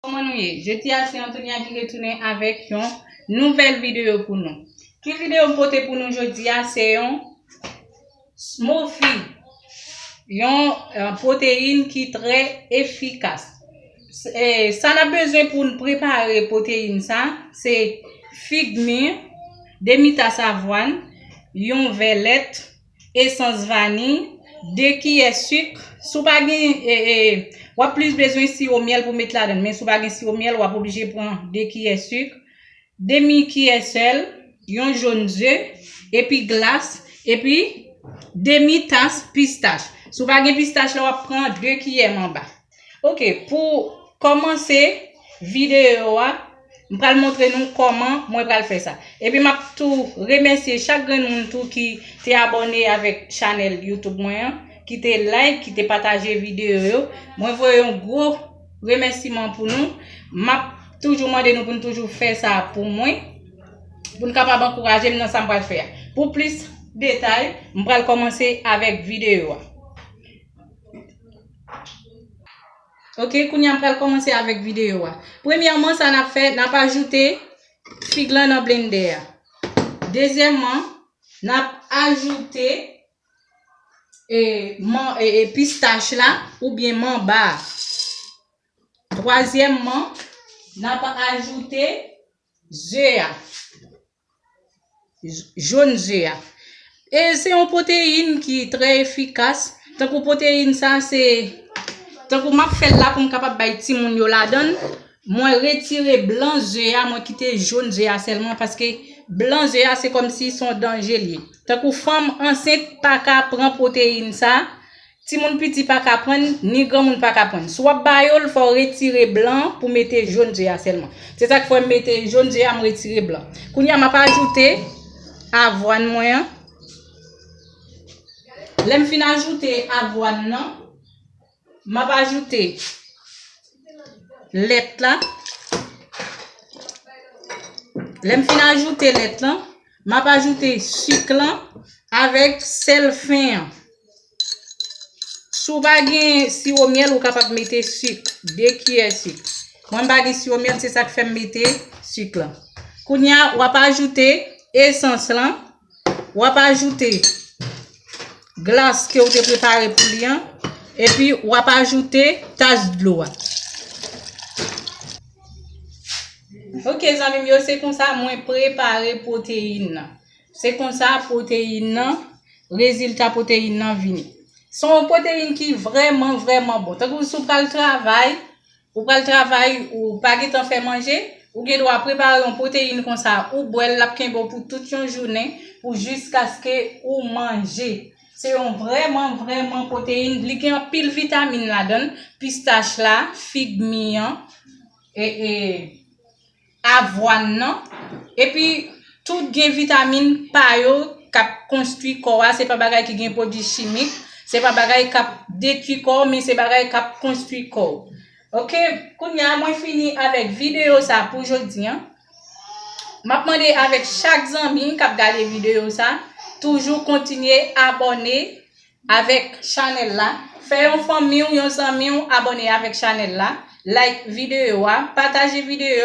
Kòman nou ye? Jodi a se Antonia ki retounen avèk yon nouvèl videyo pou nou. Ki videyo m pote pou nou jodi a se yon smoothie, yon pwoteyin ki trè efikas. Sa n ap bezwen pou n prepare pwoteyin sa, se fig mi, demi tas avwàn, yon vè lèt, esans vani, 2 kiyè suk, si w pa gen w ap plis bezwen siwo myèl pou met ladan, men si w pa gen siwo myèl w ap oblije pran 2 kiyè suk, demi kiyè sèl, yon jonn ze, epi glas, epi demi tas pistach. Si w pa gen pistach la w ap pran 2 kiyè manba. Ok pou kòmanse videyo a m pral montre nou kòman mwen pral fè sa. Epi m ap tou remèsye chak grenn moun tou ki te abòne avèk chanèl YouTube mwen an, ki te like, ki te pataje videyo yo. Mwen voye yon gwo remèsiman pou nou. M ap toujou mande nou pou nou toujou fè sa pou mwen, pou nou kapab ankouraje m nan sa m pral fè a. Pou plis detay, m pral kòmanse avèk videyo a. Ok, kounye an pral komanse avèk videyo a. Premyèman, sa nan fè, nan pa ajoute fig lan nan blendè a. Dezyèman, nan pa ajoute e, man, e, e, pistach la, ou byen man ba. Twazyèman, nan pa ajoute ze a. Jòn ze a. E se yon pwoteyin ki trè efikas. Tankou pwoteyin sa se tankou map fèl la pou m kapab bay timoun yo ladann. Mwen retire blan ze a, mwen kite jòn ze a sèlman paske blan ze a se kòm si son danje li. Tankou fanm ansent pa ka pran pwoteyin sa. Timoun piti pa ka prann, ni granmoun pa ka prann. Si w ap ba yo l, fò w retire blan an pou mete jòn ze a sèlman. Se sa k fè m mete jòn ze a, m retire blan. Kounye a, m ap ajoute avwàn mwen an. Lè m fin ajoute avwàn nan, m ap ajoute lèt la. Lè m fin ajoute lèt lan, m ap ajoute sik lan avèk sèl fen an. Si w pa gen siwo myèl, ou kapab mete sik. 2 kiyè sik. Mwen m pa gen siwo myèl, se sa k fè m mete sik lan. Kounye a, w ap ajoute esans lan. W ap ajoute glas ke ou te prepare pou li an. Epi, w ap ajoute tas dlo a. Ok zanmi m yo, se konsa mwen prepare pwoteyin nan. Se konsa pwoteyin nan, rezilta pwoteyin nan vini. Se yon pwoteyin ki vrèman, vrèman bon. Tankou si w pral travay, ou pral travay, ou pa gen tan fè manje, ou gen dwa prepare yon pwoteyin konsa, ou bwè l, l ap kenbe w pou tout yon jounen, pou jiskaske ou manje. Se yon vrèman, vrèman pwoteyin, li gen anpil vitamin ladan l, pistach la, fig mi an, e, e. avwàn nan epi tout gen vitamin pa yo kap konstwi kò a se pa bagay ki gen pwodwi chimik se pa bagay kap detwi kò men se bagay kap konstwi kò ok kounya mwen fini avèk videyo sa pou jodi an map mande avèk chak zanmi kap gade videyo sa toujou kontinye abòne avèk chanèl la fè yon fanmiw yon zanmiw abòne avèk chanèl la like videyo a pataje videyo